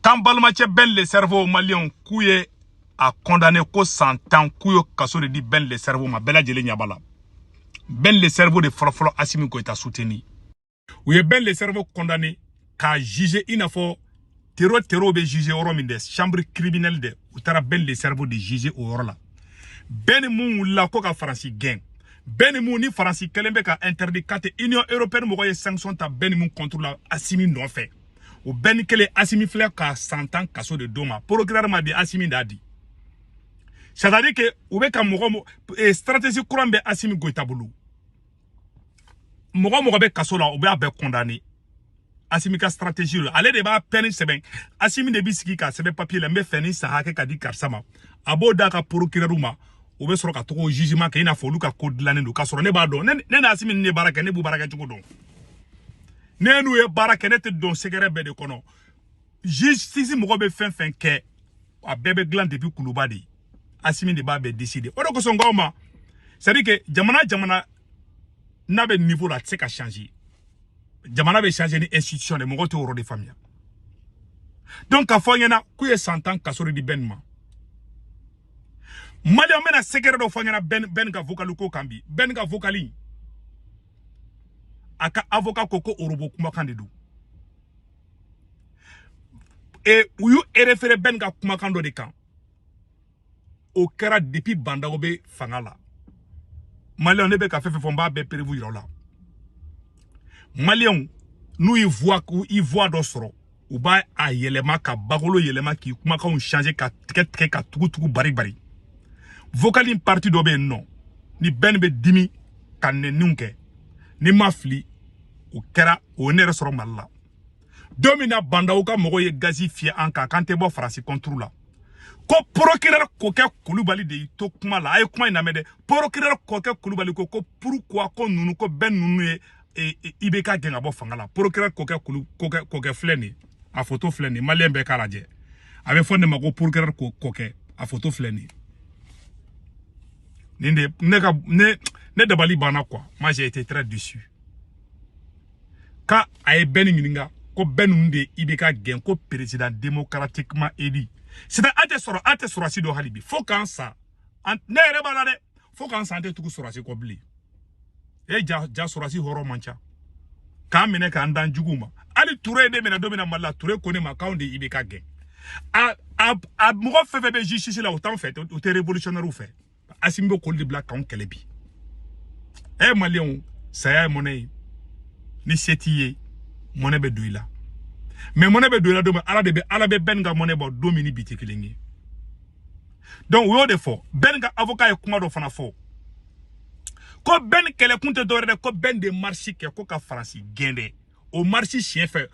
k'an balimacɛ bɛn le cerveau maliyɛnw k'u ye a kɔndane ko san tan k'u ye kaso de di bɛn le cerveau ma bɛɛ lajɛlen ɲaba la bɛn le cerveau de fɔlɔfɔlɔ asimi goyita suteni u ye bɛn le cerveau kɔndane k'a jugé i n'a fɔ tero terow bɛ jugé yɔrɔ min dɛ chambre criminelle dɛ u taara bɛn le cerveau de jugé o yɔrɔ la bɛn in min wulila ko ka faransi gɛn bɛn in min ni faransi kɛlen bɛ ka interdit k'a tɛ union européenne mɔgɔ ye sanction ta bɛn in min contre la asimi nɔfɛ o bɛn in kelen asimi filɛ ka san tan kaso de d'o ma procureur m'a di asimi d'a di c'est à dire que u bɛ ka mɔgɔ eh, stratégie kura min bɛ asimi goyita bolo mɔgɔ mɔgɔ bɛ kaso la u b'a bɛɛ condamné asimi ka stratégie la ale de b'a peine sɛbɛn asimi de bɛ sigi k'a sɛbɛn papier la n b'a fɛ nin san hakɛ ka di karisa ma a b'o d'a ka procureur ma u bɛ sɔrɔ ka tɔgɔ jugement kɛ i n'a fɔ olu ka ko dilannen don k'a sɔrɔ ne b'a dɔn ne ni asimi ninnu ye baara kɛ ne b'u baarakɛcogo dɔn ne n'u ye baara kɛ ne tɛ don secret bɛɛ de kɔnɔ justice mɔgɔ bɛ fɛn fɛn kɛ a bɛɛ bɛ dilan depuis kuluba de asimi de b'a bɛɛ décider o de kosɔn n k'aw ma c'est à dire que jamana jamana n'a bɛ niveau la a tɛ se ka changer jamana bɛ changer ni institution de mɔgɔw t'o yɔrɔ de faamuya donc k'a f'aw ɲɛna k'u ye san tan kaso de di bɛn ma maliyɛnw n bɛna secret dɔ f'aw ɲɛna bɛn bɛn ka vocal ko kan bi bɛn ka vocal a ka avocat ko ko orobo kumakan de don e u y'u erefere bɛn ka kumakan dɔ de kan o kɛra depuis bandaw bɛ fanga la maliyɛnw ne bɛ ka fɛn fɛn fɔ n b'a bɛɛ preuve yira aw la maliyɛnw n'u y'i voix dɔ sɔrɔ u b'a a yɛlɛma ka bakolo yɛlɛma k'i kumakanw changer ka tigɛ tigɛ ka tugu tugu bari bari vocal in parti dɔ bɛ yen nɔ ni bɛn bɛ dimi ka nɛniw kɛ ni n ma fili o kɛra o ye ne yɛrɛ sɔrɔ mali la don min na bandaw ka mɔgɔw ye gazi fiyɛ an kan k'an tɛ bɔ faransi contre la ko porokirɛri kokɛ kulubali de y'i to kuma la a ye kuma in lamɛn dɛ porokirɛri kokɛ kulubali ko ko purukuwa ko ninnu ko bɛn ninnu ye e, e, ibeka gɛn ka bɔ fanga la porokirɛri kokɛ kulu kokɛ kokɛ filɛ nin a foto filɛ nin maliyɛn bɛɛ k'a lajɛ a bɛ fɔ nin ma ko porokirɛri kokɛ a foto filɛ nin nin de ne ka ne ne dabali banna quoi moi j'ai été très déçu quand a ye bɛn in ɲininka ko bɛn ninnu de ibeka gɛn ko président démocratiquement élu sisan a tɛ sɔrɔ a tɛ sɔrasi dɔn hali bi fo k'an sa ne yɛrɛ b'a la dɛ fo k'an sa an tɛ tugu sɔrasi kɔ bilen e ja ja sɔrasi hɔrɔn man ca k'an minɛ k'an d'an juguw ma hali ture ye ne minɛ don min na mali la ture ko ne ma k'anw de ibeka gɛn a a a mɔgɔ fɛn fɛn bɛ justice la o t'anw fɛ o tɛ revolutionnaire fɛ asimi bɛ k'olu de bila k'anw kɛlɛ bi ɛ maliyɛnw saya ye mɔnɛ ye ni se t'i ye mɔnɛ bɛ don i la mais mɔnɛ bɛ don i la don min ala de bɛ ala bɛ bɛn ka mɔnɛ bɔ don min ni bi tɛ kelen ye donc o y'o de fɔ bɛn ka avocat ye kuma dɔ fana fɔ ko bɛn kɛlɛkun tɛ dɔwɛrɛ dɛ ko bɛn de marisi kɛ ko ka faransi gɛn dɛ o marisi siɲɛ fɛ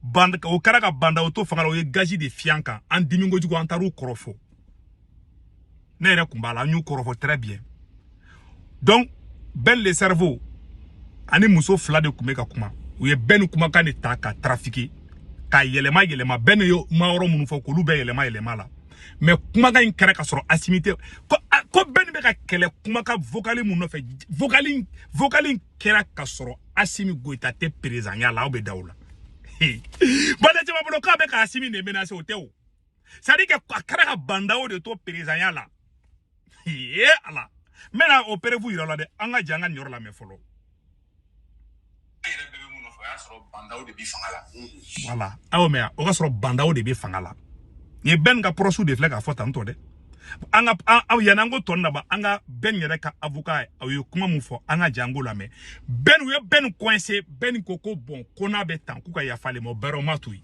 band o kɛra ka ba ndaw to fanga la u ye gazi de fiyɛ an kan an dimi kojugu an taar'u kɔrɔfɔ ne yɛrɛ kun b'a la an y'u kɔrɔfɔ très bien donc bɛn le cerveau ani muso fila de tun bɛ ka kuma u ye bɛn kumakan de ta ka trafiquer ka yɛlɛma yɛlɛma bɛn y'o mayɔrɔ minnu fɔ k'olu bɛɛ yɛlɛma yɛlɛma la mais kumakan in kɛra ka sɔrɔ asimi tɛ ko ko bɛn bɛ ka kɛlɛ kumakan vocali min nɔfɛ vocali vocali kɛra ka sɔrɔ asimi goyita tɛ perezanya la aw bɛ da o la bɔn ne caman bolo k'a bɛ ka asimi de menase o tɛ o c'est dire que a kɛra ka ba ndaw de to perezanya la ye ala n bɛna o perefu yira aw la dɛ an ka jɛn ka nin yɔrɔ lamɛn fɔlɔ wala aw mɛn o ka sɔrɔ ba ndaw de bɛ fanga la nin ye bɛn ka pɔrɔsɛ de filɛ k'a fɔ tantɔ dɛ an ka aw yanni an ko tɔ naba an ka bɛn yɛrɛ ka avocat a ye kuma min fɔ an ka jɛn k'o lamɛn bɛn u ye bɛn kɔnse bɛn ko ko bɔn ko n'a bɛ tan k'u ka yafa ale ma bɛrɛ ma to yen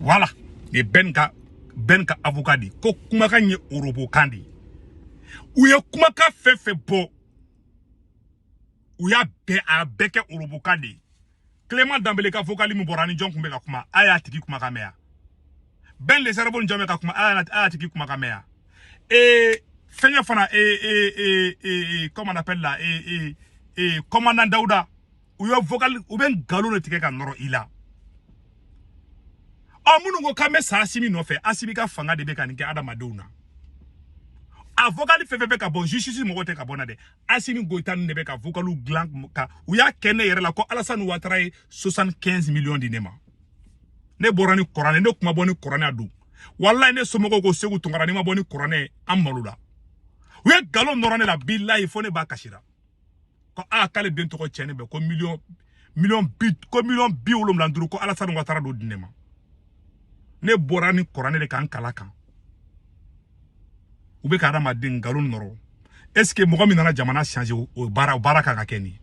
wala nin ye bɛn ka bɛn ka avocat de ko kumakan ye orobokan de ye u ye kumakan fɛn fɛn bɔ u y'a bɛɛ a bɛɛ kɛ orobokan de ye clément danbele ka vokali min bɔra ni jɔn kun bɛ ka kuma a y'a tigi kumakan mɛn yan bɛn le cerveau ni jɔn bɛ ka kuma a y'a tigi kumakan mɛn yan ee fɛngɛ fana ee ee ee comment on appelle là ee ee ee commandant dawuda u ye vocal u bɛ nkalon de tigɛ ka nɔrɔ i la ɔ minnu ko k'an bɛ sa asimi nɔfɛ asimi ka fanga de bɛ ka nin kɛ adamadenw na a vocal fɛn fɛn bɛ ka bɔ justice mɔgɔ tɛ ka bɔ na dɛ asimi goyita ninnu de bɛ ka vocaliw dilan ka u y'a kɛ ne yɛrɛ la ko alasani watara ye 75 millions di ne ma ne bɔra ni kuranɛ ne kun ma bɔ ni kuranɛ a don walayi ne somɔgɔw ko segu tunkara n'i ma bɔ ni kuranɛ an malola u ye nkalon nɔrɔ ne la bilayi fo ne ba kasira ko a k'ale den tɔgɔ cɛnnen bɛ ko miliyɔn miliyɔn bi ko miliyɔn bi wolonwula ni duuru ko alasani watara d'o di ne ma ne bɔra ni kuranɛ de ka n kal'a kan u bɛ ka adamaden nkalon nɔrɔ est ce que mɔgɔ min nana jamana change o baara o baara kan ka kɛ nin ye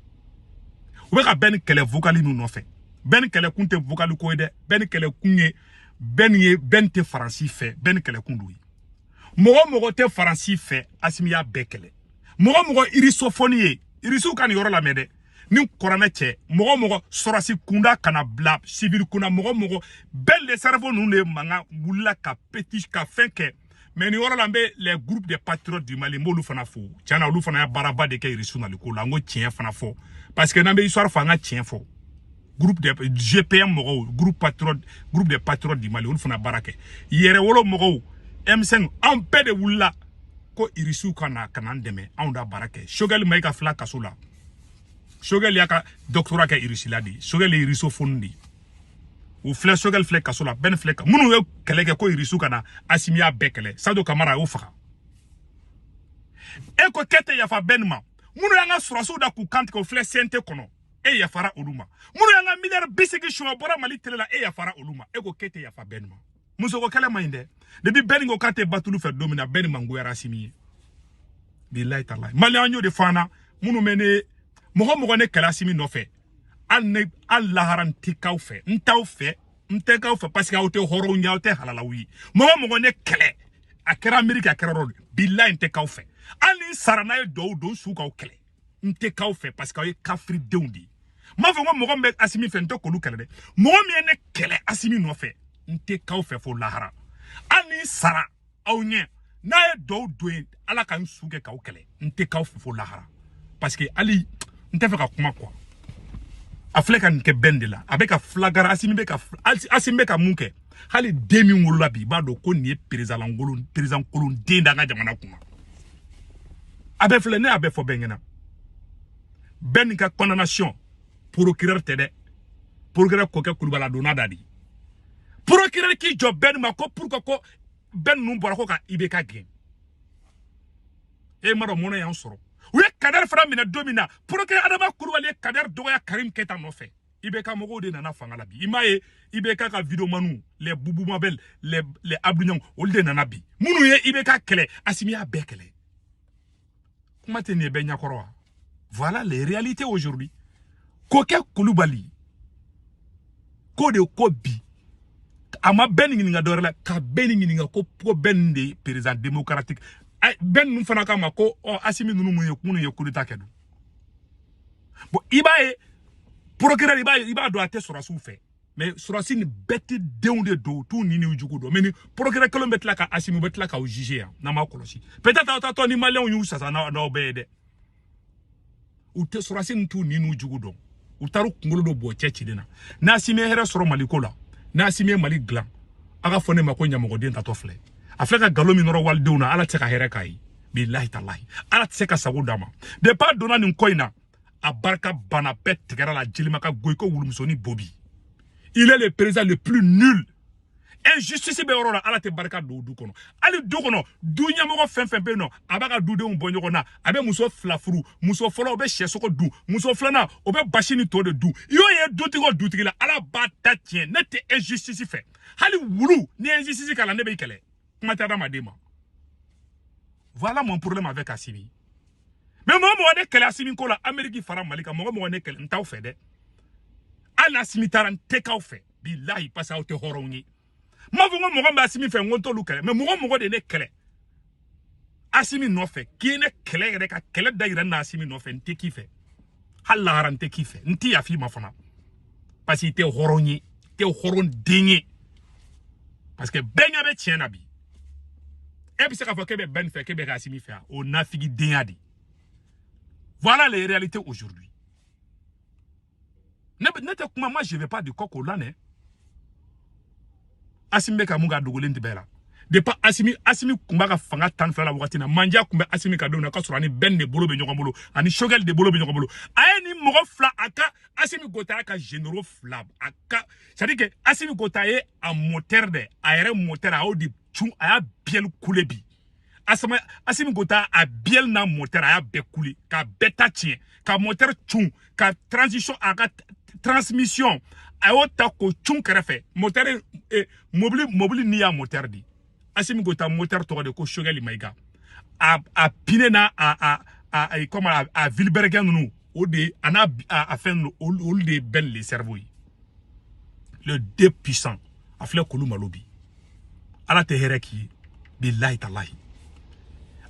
u bɛ ka bɛn kɛlɛ vokali ninnu nɔfɛ bɛn kɛlɛ kun tɛ vokali ko ye dɛ bɛn kɛlɛ kun ye bɛn ye bɛn tɛ faransi fɛ bɛn kɛlɛ kun d'o ye mɔgɔ mɔgɔ tɛ faransi fɛ asimi y'a bɛɛ kɛlɛ mɔgɔ mɔgɔ irisofɔni ye irisiw ka nin yɔrɔ lamɛn dɛ ni kɔrɔnɛ cɛ mɔgɔ mɔgɔ sɔrɔsi kunda kana bila sivili kunna mɔgɔ mɔgɔ bɛn le cerveau ninnu de mankan wulila ka peti ka fɛn kɛ mais nin yɔrɔ la n bɛ les groupes de patriotes du mali n b'olu fana fo tiɲɛ na olu fana ye baaraba de kɛ irisiw naliko la n ko tiɲɛ fana fɔ parce que n'an bɛ histoire fɔ an ka tiɲɛ fɔ groupe de GPM mɔgɔw groupe patriotes groupe de patriotes du Mali olu fana baara kɛ yɛrɛwolo mɔgɔw M5 anw bɛɛ de wulila ko irisiw ka na ka n'an dɛmɛ anw da baara kɛ Choguel Mayiga filɛ kaso la Choguel y'a ka doctorat kɛ irisi la de Choguel ye irisofoni de u filɛ Choguel filɛ kaso la Bɛn filɛ minnu ye kɛlɛ kɛ ko irisiw ka na Asimi y'a bɛɛ kɛlɛ Sadio Kamara a y'o faga e ko k'e tɛ yafa Bɛn ma minnu y'an ka sɔrɔsiw da k'u kantigɛ o filɛ CNT kɔnɔ e yafara olu ma minnu y'an ka miliyari bi seegin sonyɛ bɔra mali tele la e yafara olu ma e ko k'e tɛ yafa bɛn ma musoko kɛlɛ man ɲi dɛ depi bɛn ko k'a tɛ batulu fɛ don min na bɛn mangoyara asimi ye bilayi talayi maliyɛn y'o de fɔ an na minnu bɛ ne mɔgɔ mɔgɔ ne kɛlɛ asimi nɔfɛ hali ne hali lahara n tɛ k'aw fɛ n t'aw fɛ n tɛ k'aw fɛ parce que aw tɛ hɔrɔnw ye aw tɛ halalaw ye mɔgɔ mɔgɔ ne kɛlɛ a kɛra ameriki a kɛra erɔpu bilayi n tɛ k'aw fɛ hali ni n sara n'a ye dɔw don su k'aw kɛlɛ n tɛ k'aw fɛ parce que aw ye kafiridenw de ye n m'a fɔ ko mɔgɔ min bɛ asimi fɛ n tɛ k'olu kɛlɛ dɛ mɔgɔ min ye ne kɛlɛ asimi nɔfɛ n tɛ k'aw fɛ fo lahara hali ni n sara aw ɲɛ n'a ye dɔw don ye ala ka n su kɛ k'aw kɛlɛ n tɛ k'aw fɛ fo lahara parce que hali n tɛ fɛ ka kuma quoi a filɛ ka nin kɛ bɛn de la a bɛ ka filagara asimi bɛ ka asimi bɛ ka mun kɛ hali den min wolola bi i b'a dɔn ko nin ye président kolon président kolon den d'an ka jamana kunna a bɛ filɛ ne y'a bɛɛ fɔ bɛn ɲɛna bɛn ka condamnation procureur tɛ dɛ procureur kokɛ kulubali donna da de procureur k'i jɔ bɛn ma ko pourquoi ko bɛn ninnu bɔra ko ka ibk gɛn i m'a dɔn mɔnɛ y'an sɔrɔ u ye kadɛri fana minɛ don min na procureur adama kulubali ye kadɛri dɔgɔya karim keyita nɔfɛ ibk mɔgɔw de nana fanga la bi i m'a ye ibk ka videomaniw les boubou mabel les les abdoul niang olu de nana bi minnu ye ibk kɛlɛ asimi y'a bɛɛ kɛlɛ kuma tɛ nin ye bɛɛ ɲɛkɔrɔ wa voilà les réalités aujourd'hui kokɛ kulubali ko de ko bi a ma bɛn ɲininka dɔwɛrɛ la ka bɛn ɲininka ko ko bɛn de ye président démocratique bɛn ninnu fana k'a ma ko ɔ asimi ninnu mun ye minnu ye coup d'état kɛ dun bon i b'a ye procureur i b'a ye i b'a dɔn a tɛ sɔrɔsiw fɛ mais sɔrɔsi nin bête denw de don u t'u ɲin n'u jugu dɔn mais ni procureur kelen bɛ tila ka asimi bɛ tila k'aw juger yan n'an m'a kɔlɔsi peut être aw ta tɔ ni maliyɛnw y'u sasa n'aw bɛɛ ye dɛ u tɛ sɔrɔsi nin t'u ɲin n'u jugu dɔn u taara kunkolo dɔ bɔ cɛ cilen na n'asimi ye hɛrɛ sɔrɔ mali ko la n'asimi ye mali dilan a k'a fɔ ne ma ko ɲamɔgɔden taatɔ filɛ a filɛ ka nkalon min nɔrɔ walidenw na ala tɛ se ka hɛrɛ k'a ye bilahi talahi ala tɛ se k'a sago d'a ma depuis a donna nin ko in na a barika banna bɛɛ tigɛr'a la jelima ka go i ko wulumusonin bo bi il est le président le plus nul injustice bɛ yɔrɔ la ala tɛ barika don du kɔnɔ hali du kɔnɔ du ɲɛmɔgɔ fɛn fɛn bɛ yen n'a b'a ka dudenw bɔ ɲɔgɔn na a bɛ muso fila furu muso fɔlɔ o bɛ sɛsogo dun muso filanan o bɛ basi ni to de dun i y'o ye dutigi o dutigi la ala b'a ta tiɲɛ ne tɛ injustice fɛ hali wulu ni injustice k'a la ne b'i kɛlɛ kuma tɛ adamaden ma voilà mon problème avec asimi mais mɔgɔ mɔgɔ ne kɛlɛ asimi ko la ameriki fara mali kan mɔgɔ mɔgɔ ne kɛlɛ n t'aw fɛ dɛ hali asimi taara n tɛ k'aw fɛ bilahi parce que aw tɛ hɔrɔnw ye n m'a fɔ ko mɔgɔ min bɛ asimi fɛ n ko n t'olu kɛlɛ mais mɔgɔ mɔgɔ de ye ne kɛlɛ asimi nɔfɛ k'i ye ne kɛlɛ yɛrɛ ka kɛlɛ da yira na asimi nɔfɛ n tɛ k'i fɛ hali lahara n tɛ k'i fɛ n tɛ yafa i ma fana parce que i tɛ hɔrɔn ye i tɛ hɔrɔn den ye parce que bɛɛ ɲɛ bɛ tiɲɛ na bi e bɛ se k'a fɔ k'e bɛ bɛn fɛ k'e bɛ asimi fɛ o nafigi denya de voilà les réalités aujourd'hui ne ne tɛ kuma moi je vais pas du coq au l'âne asimi bɛ ka mun kɛ a dogolen tɛ bɛɛ la depuis asimi asimi tun b'a ka fanga tan fila la wagati na mandiya tun bɛ asimi ka denw na k'a sɔrɔ a ni bɛn de bolo bɛ ɲɔgɔn bolo a ni sogɛli de bolo bɛ ɲɔgɔn bolo a ye nin mɔgɔ fila a ka asimi gota a ka généraux fila a ka c'est à dire que asimi gota ye a moteur de a yɛrɛ moteur a y'o de cun a y'a biyɛli kule bi asama asimi gota a biyɛli n'a moteur a y'a bɛɛ kule k'a bɛɛ ta tiɲɛ ka moteur cun ka transition a ka transmission a y'o ta k'o cun kɛrɛfɛ moteur eh, mobili mobili n'i y'a moteur di asimi gota moteur tɔgɔ de ko sogɛli mayiga a a pine n'a a a a a comme a, a vilebrequin ninnu o de a n'a a, a fɛn ninnu olu de ye bɛn le cerveau ye les deux puissants a filɛ k'olu malo bi ala tɛ hɛrɛ k'i ye bilahi talahi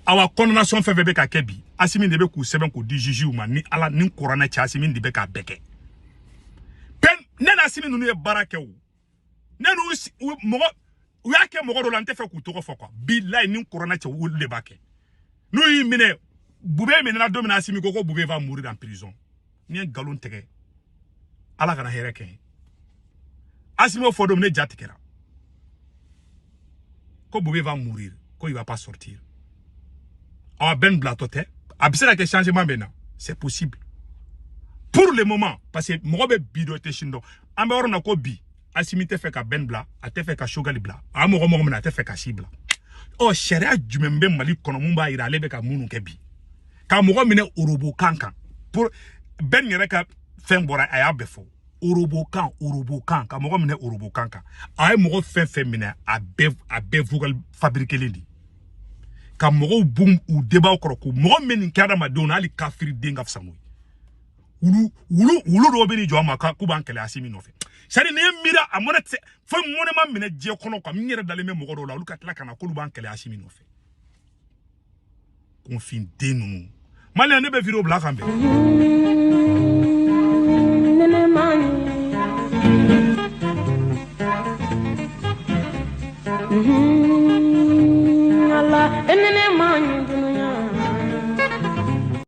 awa condamnation fɛn fɛn bɛ ka kɛ bi asimi de bɛ k'u sɛbɛn k'u di jugew ma ni ala ni kuranɛ cɛ asimi de bɛ k'a bɛɛ kɛ pɛn ne n'asimi ninnu ye baara kɛ o ne n'u mɔgɔ u y'a kɛ mɔgɔ dɔ la n t'a fɛ k'u tɔgɔ fɔ quoi bilahi ni kuranɛ cɛ olu de b'a kɛ n'u y'i minɛ bube minɛna don min na asimi ko ko bube va mourir en prison n ye nkalon tigɛ ala kana hɛrɛ kɛ asimi o fɔ don ne ja tigɛra ko bube va mourir ko il va pas sortir awa bɛn bilatɔ tɛ a bɛ se ka kɛ changement bɛ na c'est possible pour le moment parce que mɔgɔ bɛ bi dɔn i tɛ sini dɔn an bɛ yɔrɔ min na ko bi asimi tɛ fɛ ka bɛn bila a tɛ fɛ ka sogali bila a mɔgɔ mɔgɔ minɛna a tɛ fɛ ka si bila ɔ sariya jumɛn bɛ mali kɔnɔ min b'a yira ale bɛ ka minnu kɛ bi ka mɔgɔ minɛ orobo kan kan pour bɛn yɛrɛ ka fɛn bɔra a y'a bɛɛ fɔ orobo kan orobo kan ka mɔgɔ minɛ orobo kan kan a ye mɔgɔ fɛn fɛn minɛ a bɛɛ a bɛɛ vocal fabriquelen de ka mɔgɔw bɔ u denbaw kɔrɔ ko mɔgɔ min nin kɛ adamadenw na hali kafiriden ka fisa n'o ye wulu wulu wulu dɔw bɛ n'i jɔ a ma k'u b'an kɛlɛ asimi nɔfɛ sari ni ye miiri a mɔnɛ tɛ fo mɔnɛ ma minɛ diɲɛ kɔnɔ ka min yɛrɛ dalen bɛ mɔgɔ dɔw la olu ka tila ka na k'olu b'an kɛlɛ asimi nɔfɛ kunfin den ninnu maliyɛn ne bɛ video bila k'an bɛn Mm-hmm.